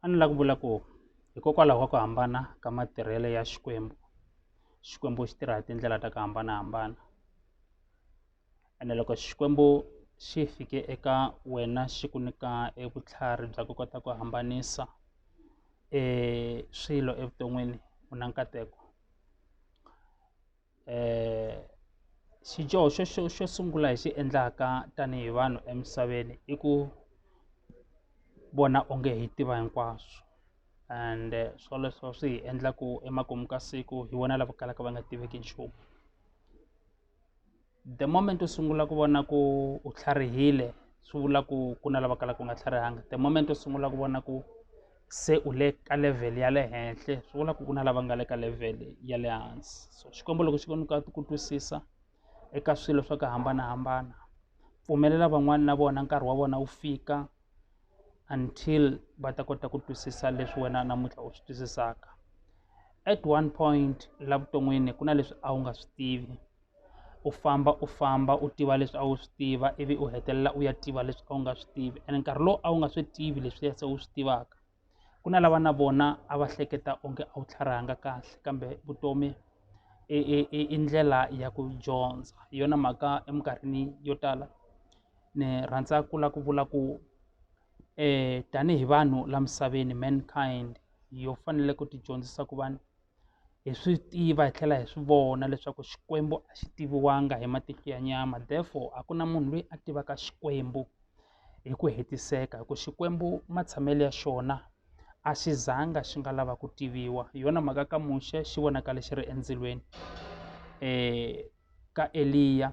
a ni lava ku vula ku hikokwalaho ka ku hambana ka matirhelo ya Xikwembu Xikwembu xi tirha hi tindlela ta ku hambanahambana ene loko Xikwembu xi fike eka wena xi ku nyika e vutlhari bya ku kota ku hambanisa e swilo evuton'wini u na nkateko. xidyoho xo xo xo sungula hi xi endlaka tanihi vanhu emisaveni i ku vona onge hi tiva hinkwaswo and swoleswo swi hi endla ku emakumu ka siku hi vona lava kalaka va nga tiveki nchumu. the moment u sungula ku vona ku u tlharihile swi vula ku ku na lava kalaka u nga tlharihanga the moment u sungula ku vona ku se u le ka level ya le henhla swi vula ku ku na lava nga le ka level ya le hansi so xikwembu loko xi konuka ku twisisa eka swilo swa ku hambanahambana pfumelela van'wani na vona nkarhi wa vona wu fika until va ta kota ku twisisa leswi wena namuntlha u swi twisisaka at one point la vuton'wini ku na leswi a wu nga swi tivi. u famba u famba u tiva leswi a wu swi tiva ivi u hetelela u ya tiva leswi a wu nga swi tivi ene nkarhi lowu a wu nga swi tivi leswiya se u swi tivaka ku na lava na vona a va hleketa onge a wu tlharihanga kahle kambe vutomi i i i i ndlela ya ku dyondza hi yona mhaka eminkarhini yo tala ni rhandza ku lava ku vula ku tanihi vanhu la misaveni mankind yo fanele ku ti dyondzisa ku va ni. hi swi tiva hi tlhela hi swi vona leswaku Xikwembu a xi tiviwanga hi matihlo ya nyama therefore a ku na munhu loyi a tivaka Xikwembu hi ku hetiseka hi ku Xikwembu matshamele ya xona a xi zanga xi nga lava ku tiviwa hi yona mhaka ka Muxe xi vonakale xi ri endzilweni ka Eliya.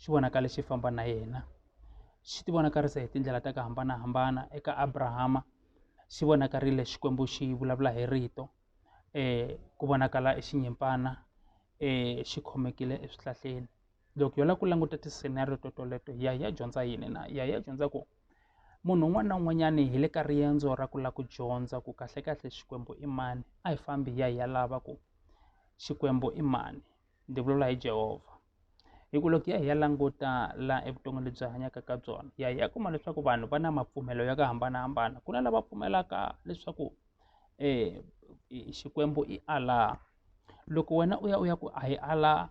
xi vonakale xi famba na yena xi ti vonakarisa hi tindlela ta ku hambanahambana eka Abrahama xi vonakarile Xikwembu xi vulavula hi rito ku vonakala i xinyimpana xi khomekile eswihlahleni loko yo lava ku languta ti scenario to toleto hi ya hi ya dyondza yini na hi ya hi ya dyondza ku munhu un'wana na un'wanyani hi le ka riendzo ra ku lava ku dyondza ku kahle kahle Xikwembu i mani a hi fambi hi ya hi ya lava ku Xikwembu i mani ndzi vulavula hi Jehovha hi ku loko ya hi ya languta la evuton'wini lebyi hanyaka ka byona ya hi ya kuma leswaku vanhu va na mapfumelo ya ku hambanahambana ku na lava pfumelaka leswaku um Xikwembu i Allah loko wena u ya u ya ku a hi Allah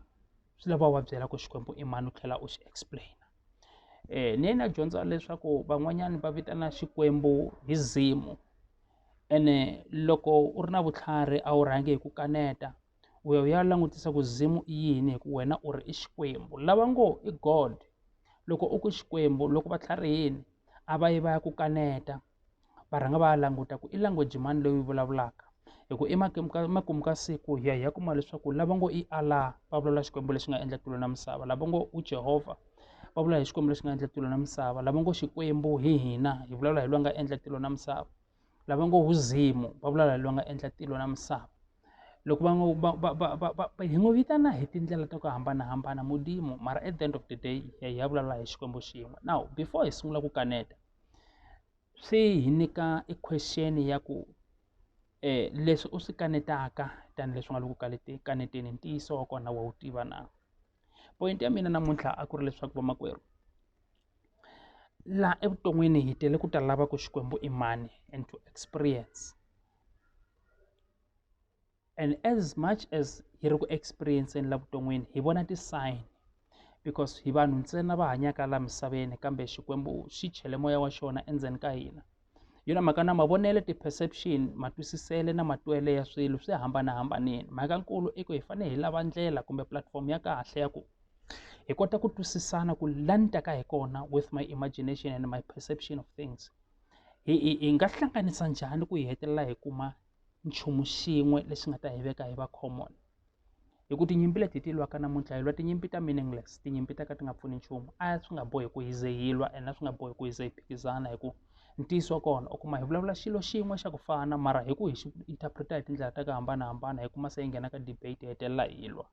swi lava u va byela ku Xikwembu i mani u tlhela u xi explain um ni ye na dyondza leswaku van'wanyani va vitana Xikwembu hi Zimu ene loko u ri na vutlhari a wu rhangi hi ku kaneta. u ya u ya langutisa ku Zimu i yini hi ku wena u ri i Xikwembu lava ngo i God loko u ku Xikwembu loko va tlharihini a va yi va ya ku kaneta va rhanga va ya languta ku i language mani leyi u vulavulaka hi ku emakumu ka siku hi ya hi ya kuma leswaku lava ngo i Allah va vulavula Xikwembu lexi nga endla tilo na misava lava ngo u Jehova va vula hi Xikwembu lexi nga endla tilo na misava lava ngo Xikwembu hi hina hi vulavula hi loyi a nga endla tilo na misava. lava ngo wuzimu va vula la loyi nga endla tilo na misava loko va ngo va va va va va hi n'wi vitana hi tindlela ta ku hambanahambana mudimu mara at the end of the day hi ya vulavula hi xikwembu xin'we now before hi sungula ku kaneta swi hi nyika i question ya ku um leswi u swi kanetaka tanihileswi u nga le ku kanete kaneteni ntiyiso wa kona wa wu tiva na point ya mina namuntlha a ku ri leswaku vamakwerhu laha evuton'wini hi tele ku ta lava ku Xikwembu i mani and to experience and as much as hi ri ku experience-eni la vuton'wini hi vona ti sign because hi vanhu ntsena va hanyaka laha misaveni kambe Xikwembu xi chele moya wa xona endzeni ka hina. yo na mhaka na mavonelo ti-perception matwisisele na matwele ya swilo swi hambanahambanile mhaka nkulu i ku hi fanele hi lava ndlela kumbe platform ya kahle ya ku hi kota ku twisisana ku la ni taka hi kona with my imagination and my perception of things hi hi hi nga hlanganisa njhani ku hi hetelela hi kuma nchumu xin'we lexi nga ta hi veka hi va common. hi ku tinyimpi leti ti lwaka namuntlha hi lwa tinyimpi ta meaningless tinyimpi ta ka ti nga pfuni nchumu a swi nga bohi ku hi ze hi lwa ene swi nga bohi ku hi ze hi phikizana hi ku ntiyiso wa kona u kuma hi vulavula xilo xin'we xa ku fana mara hi ku hi xi interpret-a hi tindlela ta ku hambanahambana hi kuma se hi nghena ka debate hi hetelela hi lwa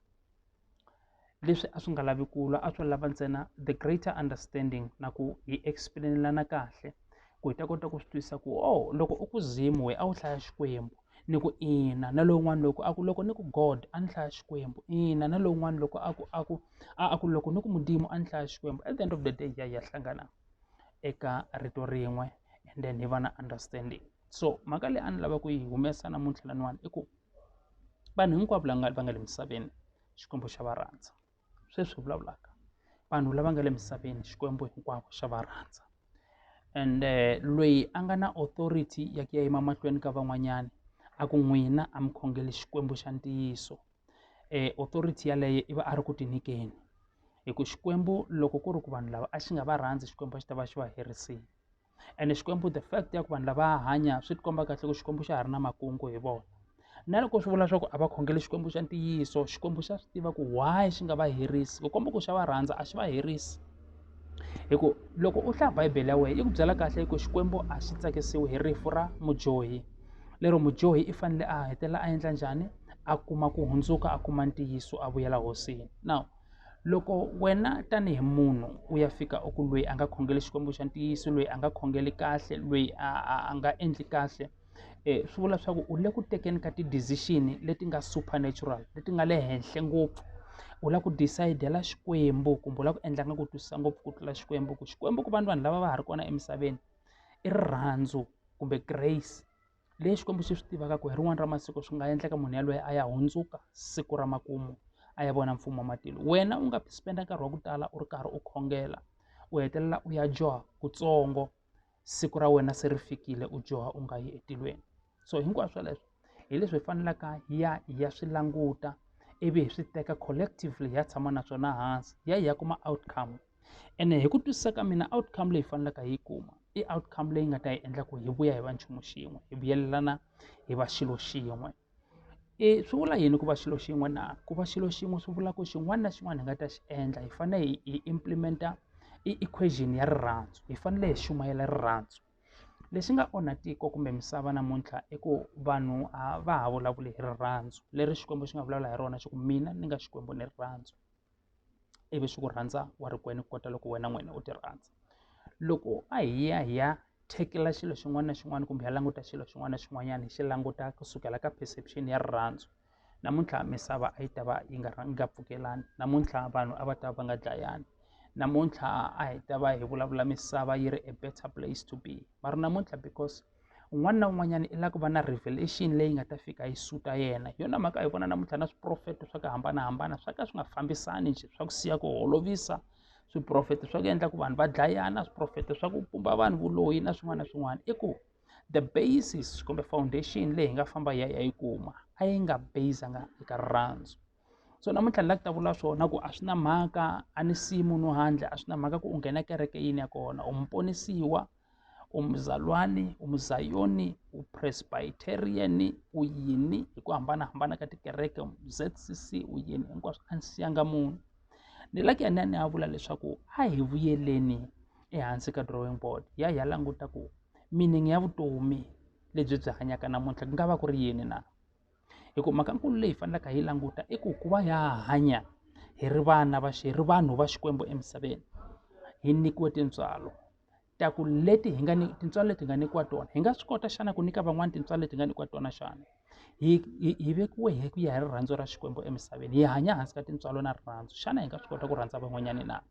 leswi a swi nga lavi ku lwa a swo lava ntsena the greater understanding na ku hi explain-elana kahle ku hi ta kota ku swi twisisa ku o loko u ku zimu we a wu hlaya xikwembu ni ku ina na lowun'wana loko a ku loko ni ku god a ni hlaya xikwembu ina na lowun'wana loko a ku a ku a a ku loko ni ku mudimu a ni hlaya xikwembu at the end of the day ya ya hlangana eka rito rin'we and then hi va na understanding so mhaka leyi a ni lava ku yi humesa namuntlha laniwani i ku vanhu hinkwavo la nga va nga le misaveni Xikwembu xa va rhandza sweswi hi vulavulaka vanhu lava nga le misaveni xikwembu hinkwavo xa va rhandza and loyi a nga na authority ya ku ya yima mahlweni ka van'wanyana a ku n'wina a mi khongeli xikwembu xa ntiyiso authority yaleyo i va a ri ku tinyikeni hi ku xikwembu loko ku ri ku vanhu lava a xi nga va rhandzi xikwembu a xi ta va xi va herisile. ene Xikwembu the fact ya ku vanhu lava hanya swi tikomba kahle ku Xikwembu xa ha ri na makungu hi vona na loko swi vula leswaku a va khongeli Xikwembu xa ntiyiso Xikwembu xa swi tiva ku why xi nga va herisi ku komba ku xa va rhandza a xi va herisi hi ku loko u hlaya Bibele ya wena yi ku byela kahle ku Xikwembu a xi tsakisiwi hi rifu ra mudyohi lero mudyohi i fanele a hetelela a endla njhani a kuma ku hundzuka a kuma ntiyiso a vuyela hosini now loko wena tanihi munhu u ya fika u ku loyi a nga khongela xikwembu xa ntiyiso loyi a nga khongeli kahle loyi a a a nga endli kahle swi vula swa ku u le ku tekeni ka ti-decision leti nga supernatural leti nga le henhla ngopfu u lava ku decide-la xikwembu kumbe u lava ku endla nga ku twisisa ngopfu ku tlula xikwembu ku xikwembu ku vanhu vanhu lava va ha ri kona emisaveni i rirhandzu kumbe grace. Leyi Xikwembu xi swi tivaka ku hi rin'wana ra masiku swi nga endleka munhu yaloye a ya hundzuka siku ra makumu a ya vona mfumo wa matilo wena u nga spend nkarhi wa ku tala u ri karhi u khongela u hetelela u ya dyoha kutsongo siku ra wena se ri fikile u dyoha u nga yi etilweni so hinkwaswo swoleswo hi leswi hi fanelaka hi ya hi ya swi languta ivi hi swi teka collectively hi ya tshama naswona hansi hi ya hi ya kuma outcome. ene hi ku twisisa ka mina outcome leyi faneleke hi yi kuma i outcome leyi nga ta yi endla ku hi vuya hi va nchumu xin'we hi vuyelelana hi va xilo xin'we i swi vula yini ku va xilo xin'we na ku va xilo xin'we swi vula ku xin'wana na xin'wana hi nga ta xi endla hi fanele hi hi implement-a i equation ya rirhandzu hi fanele hi xumayela rirhandzu lexi nga onha tiko kumbe misava namuntlha i ku vanhu a va ha vulavuli hi rirhandzu leri xikwembu xi nga vulavula hi rona xi ku mina ni nga xikwembu ni rirhandzu. ivi swi ku rhandza wa ri kwenu ku kota loko wena n'wini u ti rhandza loko a hi ya hi ya thekela xilo xin'wana na xin'wana kumbe ya languta xilo xin'wana na xin'wanyana hi xi languta kusukela ka perception ya rirhandzu namuntlha misava a yi ta va yi nga nga pfukelani namuntlha vanhu a va ta va nga dlayani namuntlha a hi ta va hi vulavula misava yi ri a better place to be mara namuntlha because un'wana na un'wanyana i la ku va na revelation leyi nga ta fika yi suta yena hi yona mhaka hi vona namuntlha na swiprofeto swa ku hambanahambana swa ka swi nga fambisani njhe swa ku siya ku holovisa swiprofeto swa ku endla ku vanhu va dlayana swiprofeto swa ku pumba vanhu vuloyi na swin'wana na swin'wana i ku the basis kumbe foundation leyi hi nga famba hi ya hi ya yi kuma a yi nga basanga eka rirhandzu so namuntlha ni la ku ta vula swona ku a swi na mhaka a ni siyi munhu handle a swi na mhaka ku u nghena kereke yini ya kona u muponisiwa u muzalwani u muzayoni u presbyterian u yini hi ku hambanahambana ka tikereke z c c u yini hinkwaswo a ni siyanga munhu ni la ku ya ni ya ni ya vula leswaku a hi vuyeleni ehansi ka drawing board ya hi ya languta ku meaning ya vutomi lebyi byi hanyaka namuntlha ku nga va ku ri yini na hi ku mhaka nkulu leyi faneleke hi languta i ku ku va ya hanya hi ri vana va xi ri vanhu va xikwembu emisaveni hi nyikiwe tintswalo ta ku leti hi nga ni tintswalo leti nga nyikiwa tona hi nga swi kota xana ku nyika van'wana tintswalo leti nga nyikiwa tona xana hi hi hi vekiwe hi ku ya hi rirhandzu ra xikwembu emisaveni hi hanya hansi ka tintswalo na rirhandzu xana hi nga swi kota ku rhandza van'wanyani na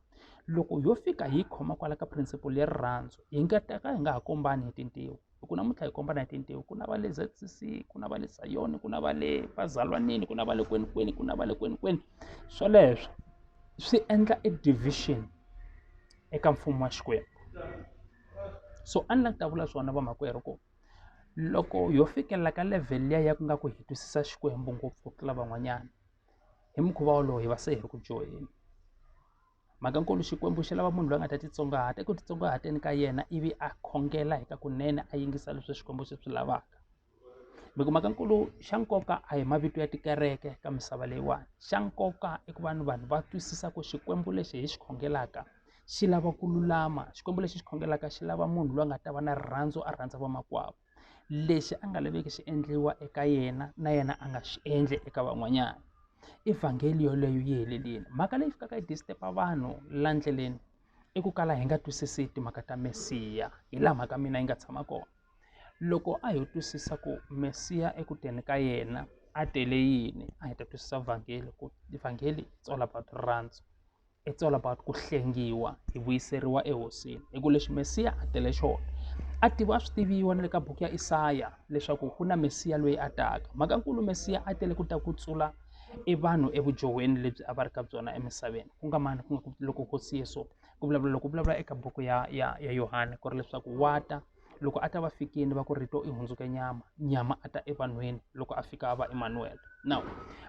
loko yo fika hi khoma kwala ka principle ya rirhandzu hi nga ta ka hi nga ha kombani hi tintiho hi ku namuntlha hi kombana hi tintiho ku na va le zcc ku na va le sayoni ku na va le vazalwanini ku na va le kweni kweni ku na va le kweni kweni swoleswo swi endla e division eka mfumo wa xikwembu so a ni la ta vula swona vamakwerhu ku loko yo fikelela ka level liya ya ku nga ku hi twisisa xikwembu ngopfu ku tlula van'wanyana hi mukhuva wolowo hi va se hi ri ku dyoheni mhaka nkulu xikwembu xi lava munhu loyi a nga ta titsongahata eku titsongahateni ka yena ivi a khongela hi ka kunene a yingisa leswi xikwembu xi swi lavaka mi ku mhaka nkulu xa nkoka a hi mavito ya tikereke ka misava leyiwani xa nkoka i ku va ni vanhu va twisisa ku xikwembu lexi hi xi khongelaka xi lava ku lulama xikwembu lexi xi khongelaka xi lava munhu loyi a nga ta va na rirhandzu a rhandza vamakwavo lexi a nga laveki xi endliwa eka yena na yena a nga xi endli eka van'wanyana evhangeli yoleyo yi helerile mhaka leyi fikaka yi disturb vanhu la ndleleni i ku kala hi nga twisisi timhaka ta mesiya hi laha mhaka mina yi nga tshama kona loko a hi twisisa ku mesiya eku teni ka yena a tele yini a hi ta twisisa vhangeli ku vhangeli it's all about rirhandzu. it's all about ku hlengiwa hi vuyiseriwa ehosini hi ku lexi mesiya a tele xona a tiva a swi tiviwa na le ka buku ya isaya leswaku ku na mesiya loyi a taka mhakankulu mesiya a tele ku ta ku tsula i e vanhu evudyohweni lebyi a va ri ka byona emisaveni ku nga mani loko hosi yesu ku vulavula loko vulavula eka buku ya ya ya yohana ku ri leswaku wa ta loko a ta va fikile va ku rito i hundzuke nyama nyama a ta evanhwini loko a fika a va Emmanuel now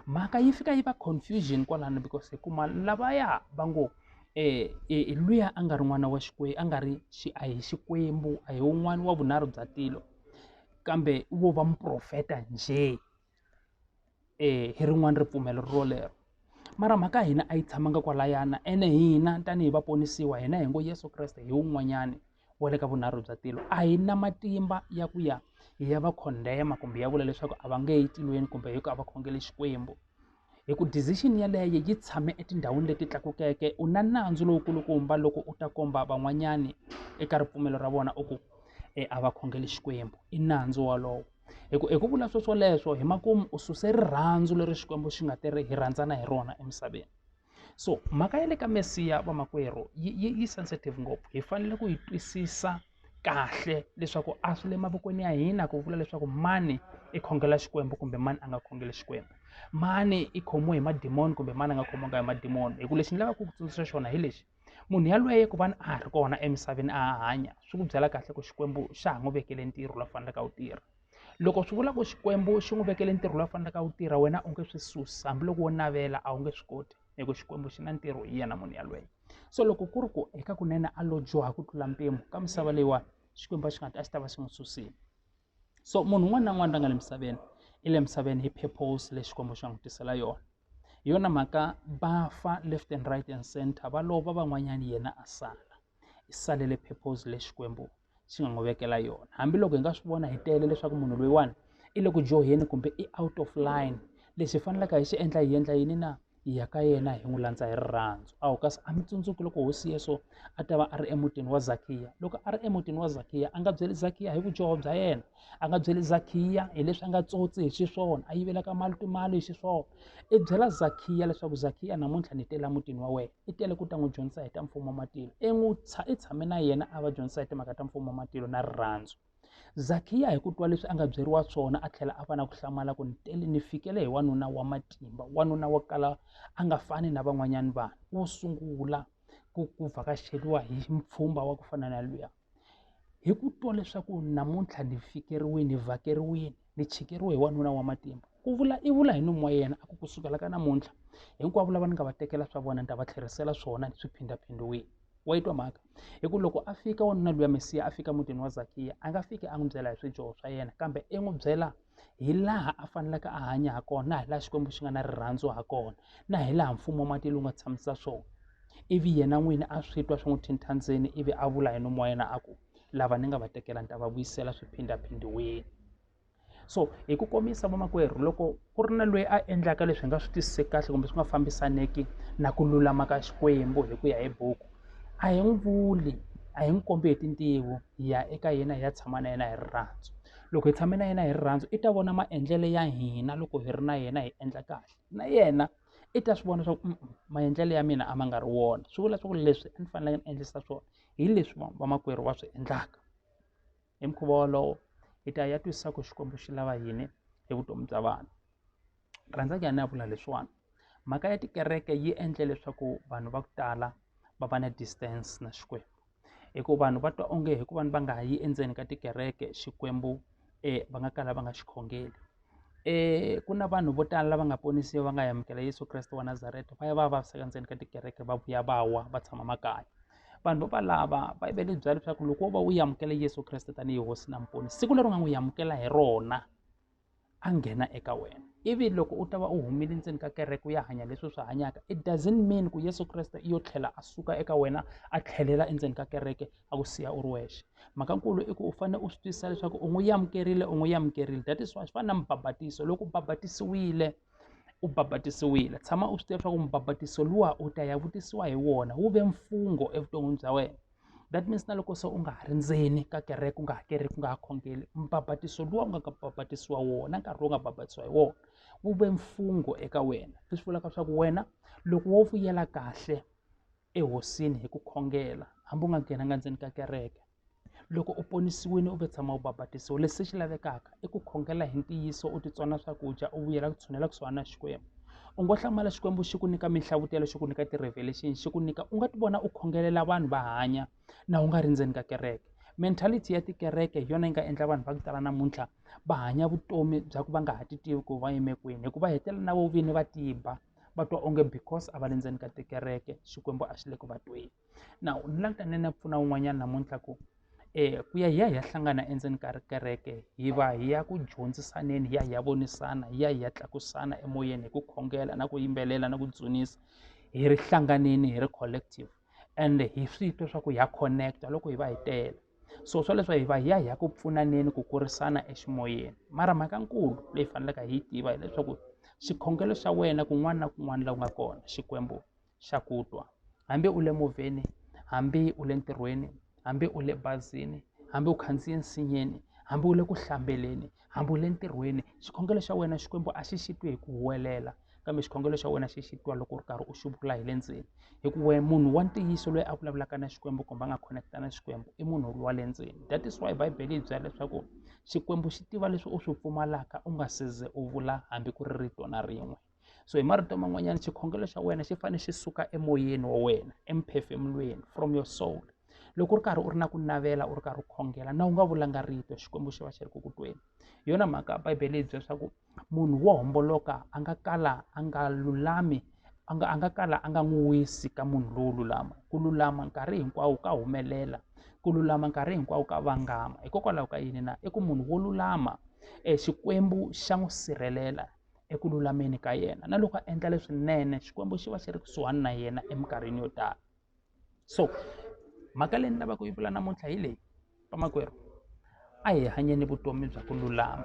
mhaka yi fika yi va confusion kwalano because hi kuma lavaya va ngo eh, eh luya a nga ri n'wana wa xikwembu a nga ri xi a hi xikwembu a hi un'wana wa vunharhu bya tilo kambe wo va muprofeta njhe hi rin'wana ripfumelo rolero mara mhaka hina a yi tshamanga kwalayana ene hina tanihi va ponisiwa hina hi ngo Yeso Kreste hi wun'wanyani wa le ka vunharhu bya tilo a hi na matimba ya ku ya hi ya va condemn-a kumbe ya vula leswaku a va nge yi tilweni kumbe hi ku a va khongeli Xikwembu. hi ku decision yeleyo yi tshame etindhawini leti tlakukeke u na nandzu lowu kulukumba loko u ta komba van'wanyana eka ripfumelo ra vona u ku a va khongela xikwembu i nandzu wolowo hi ku hi ku vula swo swoleswo hi makumu u suse rirhandzu leri xikwembu xi nga tirhi hi rhandzana hi rona emisaveni so mhaka ya le ka mesiya vamakwerhu yi yi yi sensitive ngopfu hi fanele ku yi twisisa kahle leswaku a swi le mavokweni ya hina ku vula leswaku mani i khongela xikwembu kumbe mani a nga khongeli xikwembu mani i khomiwe hi madimoni kumbe mani a nga khomiwanga hi madimoni hi ku lexi ni lavaka ku ku tsundzuxa xona hi lexi munhu yaloye ku va ni a ha ri kona emisaveni a ha hanya swi ku byela kahle ku xikwembu xa ha n'wi vekele ntirho la faneleke a wu tirha loko swi vula ku xikwembu xi n'wi vekele ntirho la faneleke a wu tirha wena u nge swi susi hambiloko wo navela a wu nge swi koti hi ku xikwembu xi na ntirho hi yena munhu yaloye so loko ku ri ku eka kunene a lo dyoha ku tlula mpimo ka misava leyiwani xikwembu a xi nga ta a xi ta va xi n'wi susile so munhu un'wana na un'wana la nga le misaveni i le misaveni hi purpose leyi xikwembu xi nga n'wi tisela yona hi yona mhaka va fa left and right and center va lova van'wanyana yena a sala i salele purpose leyi xikwembu swi nga n'wi vekela yona hambiloko hi nga swi vona hi tele leswaku munhu loyiwani i le ku dyoheni kumbe i out of line leswi hi faneleke hi swi endla hi endla yini na hi ya ka yena hi n'wi landza hi rirhandzu a wu kasi a mi tsundzuki loko hosi yeso a ta va a ri emutini wa zakhiya loko a ri emutini wa zakhiya a nga byeli zakhiya hi vudyoho bya yena a nga byeli zakhiya hileswi a nga tsotsi hi xiswona a yivelaka mali timali hi xiswona i byela zakhiya leswaku zakhiya namuntlha ni tela mutini wa wena i tele ku ta n'wi dyondzisa hi ta mfumo wa matilo i n'wi i tshame na yena a va dyondzisa hi timhaka ta mfumo wa matilo na rirhandzu zakhiya hi ku twa leswi a nga byeriwa swona a tlhela a va na ku hlamala ku ni tele ni fikele hi wanuna wa matimba wanuna wo kala a nga fani na van'wanyana vanhu wo sungula ku ku vhakaxeriwa hi mpfhumba wa ku fana na luya hi ku twa leswaku namuntlha ni fikeriwile ni vhakeriwile ni chikeriwe hi wanuna wa matimba ku vula i vula hi nomu wa yena a ku ku sukela ka namuntlha hinkwavo lava ni nga va tekela swa vona ni ta va tlherisela swona swi phindaphindiwile wa yi twa mhaka hi ku loko a fika wanuna luya mesiya a fika mutini wa zakiya a nga fiki a n'wi byela hi swidyoho swa yena kambe i n'wi byela hi laha a faneleke a hanya ha kona na hi laha xikwembu xi nga na rirhandzu ha kona na hi laha mfumo wa matilo wu nga tshamisa swona ivi yena n'wini a swi twa swi n'wi thintha ndzeni ivi a vula hi nomo wa yena a ku lava ni nga va tekela ni ta va vuyisela swi phindaphindiweni so hi ku komisa vamakwerhu loko ku ri na loyi a endlaka leswi hi nga swi twisise kahle kumbe swi nga fambisaneki na ku lulama ka xikwembu hi ku ya hi buku a hi n'wi vuli a hi n'wi kombi hi tintiho hi ya eka yena hi ya tshama na yena hi rirhandzu loko hi tshame na yena hi rirhandzu i ta vona maendlelo ya hina loko hi ri na yena hi endla kahle na yena i ta swi vona leswaku maendlelo ya mina a ma nga ri wona swi vula leswaku leswi a ni faneleke ni endlisa swona hi leswi vamakwerhu va swi endlaka hi mukhuva wolowo hi ta ya twisisa ku xikwembu xi lava yini hi vutomi bya vanhu rhandza njhani a vula leswiwani mhaka ya tikereke yi endle leswaku vanhu va ku tala va va na distance na xikwembu hi ku vanhu va twa onge hikuva va nga ha yi endzeni ka tikereke xikwembu um va nga kala va nga xi khongeli um ku na vanhu vo tala lava nga ponisiwa va nga amukela yesu kreste wa nazareta va ya va ya vaviseka ndzeni ka tikereke va vuya va wa va tshama makaya vanhu vo valava va yivele byela leswaku loko wo va u amukela yesu kreste tanihi hosi na muponi siku leri u nga n'wi amukela hi rona a nghena eka wena ivi loko u ta va u humile ndzeni ka kereke u ya hanya leswi swi hanyaka it doesn't mean ku yesu kreste i yo tlhela a suka eka wena a tlhelela endzeni ka kereke a ku siya u ri wexe mhakankulu i ku u fanele u swi twisisa leswaku u n'wi yamukerile u n'wi yamukerile that is why swi fana na mubabatiso loko u babatisiwile u babatisiwile tshama u swi tiva leswaku mubabatiso luwa u ta ya vutisiwa hi wona wu ve mfungho evuton'wini bya wena that means na loko se u nga ha ri ndzeni ka kereke u nga hakeri ku nga ha khongeli mbhabhatiso luwa u nga ka babhatisiwa wona nkarhi lowu nga babhatisiwa hi wona wu ve mfungho eka wena leswi vulaka leswaku wena loko wo vuyela kahle ehosini hi ku khongela hambi u nga nghenanga ndzeni ka kereke loko u ponisiwile u ve tshama u babhatisiwa lexi xi lavekaka i ku khongela hi ntiyiso u titsona swakudya u vuyela ku tshunela kusuhana na xikwembu u ngo hlamala xikwembu xi ku nyika minhlavutelo xi ku nyika ti-revelation xi ku nyika u nga ti vona u khongelela vanhu va hanya na u nga ri ndzeni ka kereke mentality ya tikereke hi yona yi nga endla vanhu va ku tala namuntlha va hanya vutomi bya ku va nga ha ti tivi ku va yime kwini hikuva hetela na vo vini va tiba va twa onge because a va le ndzeni ka tikereke xikwembu a xi le ku va tweni na u ni lava ni pfuna un'wanyana namuntlha ku um ku ya hi ya hi ya hlangana endzeni ka ri kereke hi va hi ya ku dyondzisaneni hi ya hi ya vonisana hi ya hi ya tlakusana emoyeni hi ku khongela na ku yimbelela na ku dzunisa hi ri hlanganini hi ri collective and hi swi twa swa ku ya connect loko hi va hi tele so swoleswo hi va hi ya hi ya ku pfunaneni ku kurisana eximoyeni mara mhaka nkulu leyi faneleke hi yi tiva hileswaku xikhongelo xa wena kun'wana na kun'wana laha ku nga kona xikwembu xa ku twa hambi u le movheni hambi u le ntirhweni hambi u le bazini hambi u khandziya ensinyeni hambi u le ku hlambeleni hambi u le ntirhweni xikhongelo xa wena Xikwembu a xi xi twi hi ku huwelela kambe xikhongelo xa wena xi xi twa loko u ri karhi u xi vula hi le ndzeni hikuva munhu wa ntiyiso loyi a vulavulaka na Xikwembu kumbe a nga connect-a na Xikwembu i munhu wa le ndzeni that is why Bibele yi byela leswaku Xikwembu xi tiva leswi u swi pfumalaka u nga size u vula hambi ku ri rito na rin'we so hi marito man'wanyana xikhongelo xa wena xi fanele xi suka emoyeni wa wena emphefemulweni from your soul loko u ri karhi u ri na ku navela u ri karhi u khongela na u nga vulanga rito xikwembu xi va xi ri ku ku tweni hi yona mhaka bibele yi byela leswaku munhu wo homboloka a nga kala a nga lulami a nga a nga kala a nga n'wi wisi ka munhu lowo lulama ku lulama nkarhi hinkwawo ka humelela ku lulama nkarhi hinkwawo ka vangama hikokwalaho ka yini na i ku munhu wo lulama um xikwembu xa n'wi sirhelela eku lulameni ka yena na loko a endla leswinene xikwembu xi va xi ri kusuhani na yena eminkarhini yo tala so mhaka leyi ni lavaka yi vula namuntlha hi leyi vamakwerhu a hi hanyeni vutomi bya ku lulama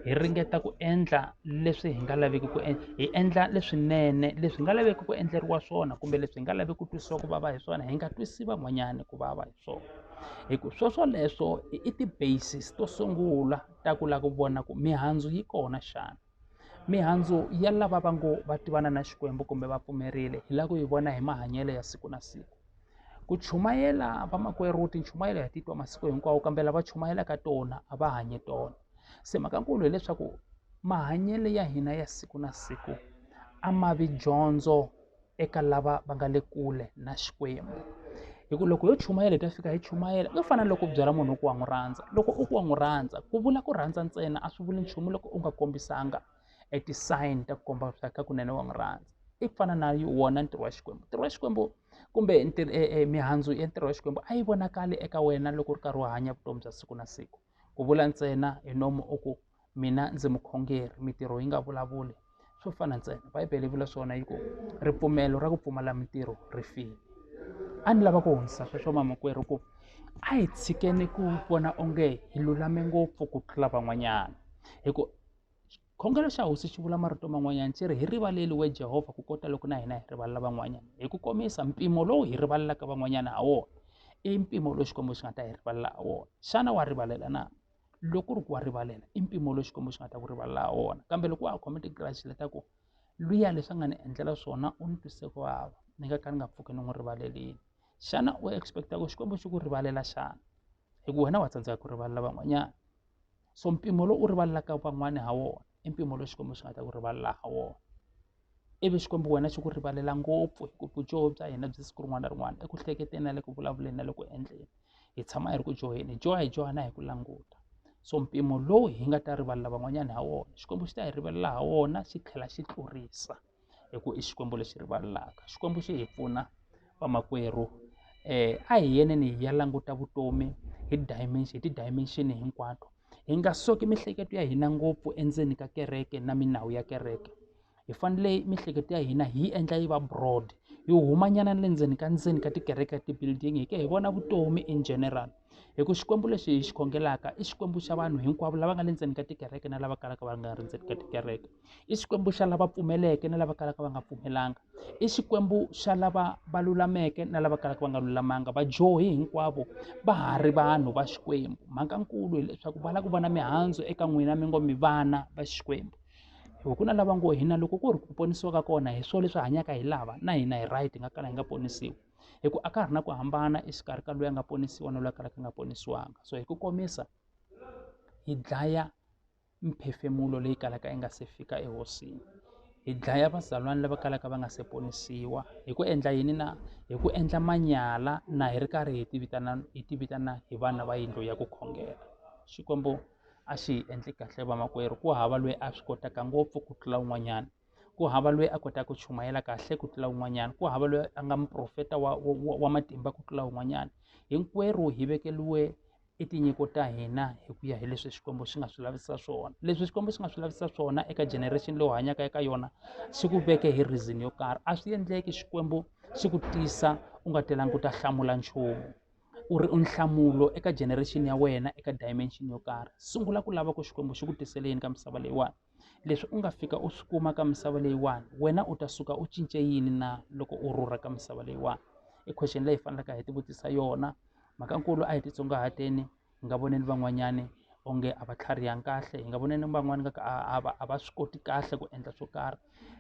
hi ringeta ku endla leswi hi nga laveki ku endla hi endla leswinene leswi nga laveki ku endleriwa swona kumbe leswi hi nga laveki ku twisiwa ku vava hi swona hi nga twisi van'wanyana ku vava hi swona hi ku swoswoleswo i ti-basis to sungula ta ku lava ku vona ku mihandzu yi kona xana mihandzu ya lava va ngo va tivana na xikwembu kumbe va pfumerile hi lava ku yi vona hi mahanyelo ya siku na siku ku chumayela vamakwerhu tinchumayelo ya titwa masiku hinkwawo kambe lava chumayelaka tona a va hanye tona se mhaka nkulu hileswaku mahanyelo ya hina ya siku na siku a ma vi dyondzo eka lava va nga le kule na Xikwembu hi ku loko yo chumayela hi ta fika hi chumayela yo fana na loko u byela munhu ku wa n'wi rhandza loko u ku wa n'wi rhandza ku vula ku rhandza ntsena a swi vuli nchumu loko u nga kombisanga e ti-sign ta ku komba ka kunene wa n'wi rhandza i ku fana na wona ntirho wa Xikwembu ntirho wa Xikwembu kumbe ntirho e, e, mihandzu ya ntirho wa Xikwembu a yi vonakali eka wena loko u ri karhi u hanya vutomi bya siku na siku ku vula ntsena hi nomu u ku mina ndzi mukhongeri mintirho yi nga vulavuli swo fana ntsena bibele yi vula swona yi ku ripfumelo ra ku pfumala mintirho ri file a ni lava ku hundzisa sweswo mamakwerhu ku a hi tshikeni ku vona onge hi lulame ngopfu ku tlula van'wanyana hi ku khongelo xa hosi xi vula marito man'wanyana xi ri hi rivaleli we jehovha ku kota loko na hina hi rivalela van'wanyana hi ku komisa mpimo lowu hi rivalelaka van'wanyana ha wona i mpimo lowu xikwembu xi nga ta hi rivalela ha wona xana wa rivalela na loko ku ri ku wa rivalela i mpimo lowu xikwembu xi nga ta ku rivalela ha wona kambe loko wa ha khome tigrasi le ta ku luya leswi a nga ni endlela swona u ni twise ku vava ni nga ka ni nga pfuki ni n'wi rivalelini xana u expect-a ku xikwembu xi ku rivalela xana hi ku wena wa tsandzeka ku rivalela van'wanyana so mpimo lowu u rivalelaka van'wani ha wona i mpimo lowu xikwembu xi nga ta ku rivalela ha wona ivi xikwembu wena xi ku rivalela ngopfu hi ku vujoho bya hina byi siku rin'wana na rin'wana eku hleketeni na le ku vulavuleni na le ku endleni hi tshama hi ri ku joheni hi joha hi joha na hi ku languta so mpimo lowu hi nga ta rivalela van'wanyana ha wona xikwembu xi ta hi rivalela ha wona xi tlhela xi tlurisa hi ku i xikwembu lexi rivalaka xikwembu xi hi pfuna vamakwerhu um a hi yeneni hi ya languta vutomi hi dimension hi ti-dimension hinkwato hi nga suki miehleketo ya hina ngopfu endzeni ka kereke na milawu ya kereke hi fanele miehleketo ya hina hi yi endla yi va broad yi humanyana na le ndzeni ka ndzeni ka tikereke ya ti-building hi ke hi vona vutomi in general hi ku xikwembu lexi hi xi khongelaka i xikwembu xa vanhu hinkwavo lava nga le ndzeni ka tikereke na lava kalaka va nga ri ndzeni ka tikereke i xikwembu xa lava pfumeleke na lava kalaka va nga pfumelanga i xikwembu xa lava va lulameke na lava kalaka va nga lulamanga vadyohi hinkwavo va ha ri vanhu va xikwembu mhakankulu hileswaku va lava ku vona mihandzu eka n'wina mi ngo mi vana va xikwembu hi ku na lava ngo hina loko ku ri ku ponisiwa ka kona hi swona leswi hanyaka hi lava na hina hi right hi nga kala hi nga ponisiwi hi ku a ka ha ri na ku hambana exikarhi ka loyi a nga ponisiwa na loyi a kalaka a nga ponisiwanga so hi ku komisa hi dlaya mphefemulo leyi kalaka yi nga se fika ehosini hi dlaya vazalwana lava kalaka va nga se ponisiwa hi ku endla yini na hi ku endla manyala na hi ri karhi hi ti vitana hi ti vitana hi vana va yindlu ya ku khongela xikwembu a xi hi endli kahle vamakwerhu ku hava loyi a swi kotaka ngopfu ku tlula un'wanyana ku hava loyi a kotaka ku chumayela kahle ku tlula un'wanyana ku hava loyi a nga muprofeta wa, wa, wa matimba ku tlula un'wanyana hinkwerhu hi vekeliwe i tinyiko ta hina hi ku ya hi leswi xikwembu xi nga swi lavisa swona leswi xikwembu xi nga swi lavisa swona eka generation leyi hanyaka eka yona xi ku veke hi reason yo karhi a swi endleki xikwembu xi ku tisa u nga telangi u ta hlamula nchumu u ri u nhlamulo eka generation ya wena eka dimension yo karhi sungula ku lava ku xikwembu xi ku tisele yini ka misava leyiwani leswi u nga fika u swi kuma ka misava leyiwani wena u ta suka u cince yini na loko u rhurha ka misava leyiwani i question leyi hi faneleke hi ti vutisa yona mhaka nkulu a hi titsongahateni hi nga voneni van'wanyani onge a va tlharihanga kahle hi nga voneni van'wani nga ku a va a va swi koti kahle ku endla swo karhi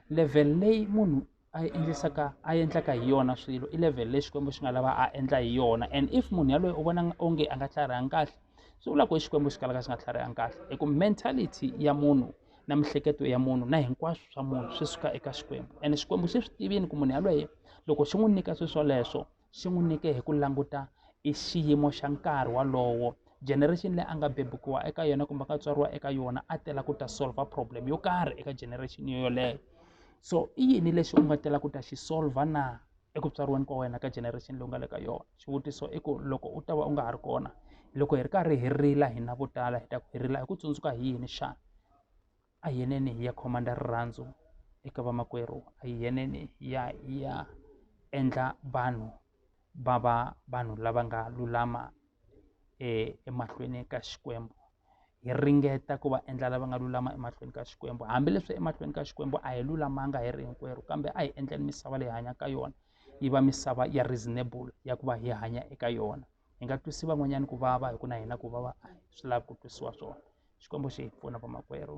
level leyi munhu. a yi endlisaka a endlaka hi yona swilo i level leyi xikwembu xi nga lava a endla hi yona and if munhu yaloye u vona onge a nga tlharihangi kahle swi vula ku i xikwembu xi kalaka xi nga tlharihangi kahle hi ku mentality ya munhu na miehleketo ya munhu na hinkwaswo swa munhu swi suka eka xikwembu and xikwembu xi swi tivini ku munhu yaloye loko xi n'wi nyika swilo swoleswo xi n'wi nyike hi ku languta i xiyimo xa nkarhi walowo generation leyi a nga bebukiwa eka yona kumbe ka tswariwa eka yona a tela ku ta solver problem yo karhi eka generation yoleyo so i yini lexi u nga tela ku ta xi solver na eku tswariweni ka wena ka generation leyi u nga le ka yona xivutiso i ku loko u ta va u nga ha ri kona loko hi ri karhi hi rila hina vo tala hi ta ku hi rila hi ku tsundzuka hi yini xana a hi yeneni hi ya khomanda rirhandzu eka vamakwerhu a hi yeneni hi ya hi ya endla vanhu va va vanhu lava nga lulama e emahlweni ka xikwembu hi ringeta ku va endla lava nga lulama emahlweni ka xikwembu hambileswi emahlweni ka xikwembu a hi lulamanga hi ri hinkwerhu kambe a hi endleni misava leyi hanyaka ka yona yi va misava ya reasonable ya ku va hi hanya eka yona hi nga twisi van'wanyana ku vava hi ku na hina ku vava a swi lavi ku twisiwa swona xikwembu xi hi pfuna vamakwerhu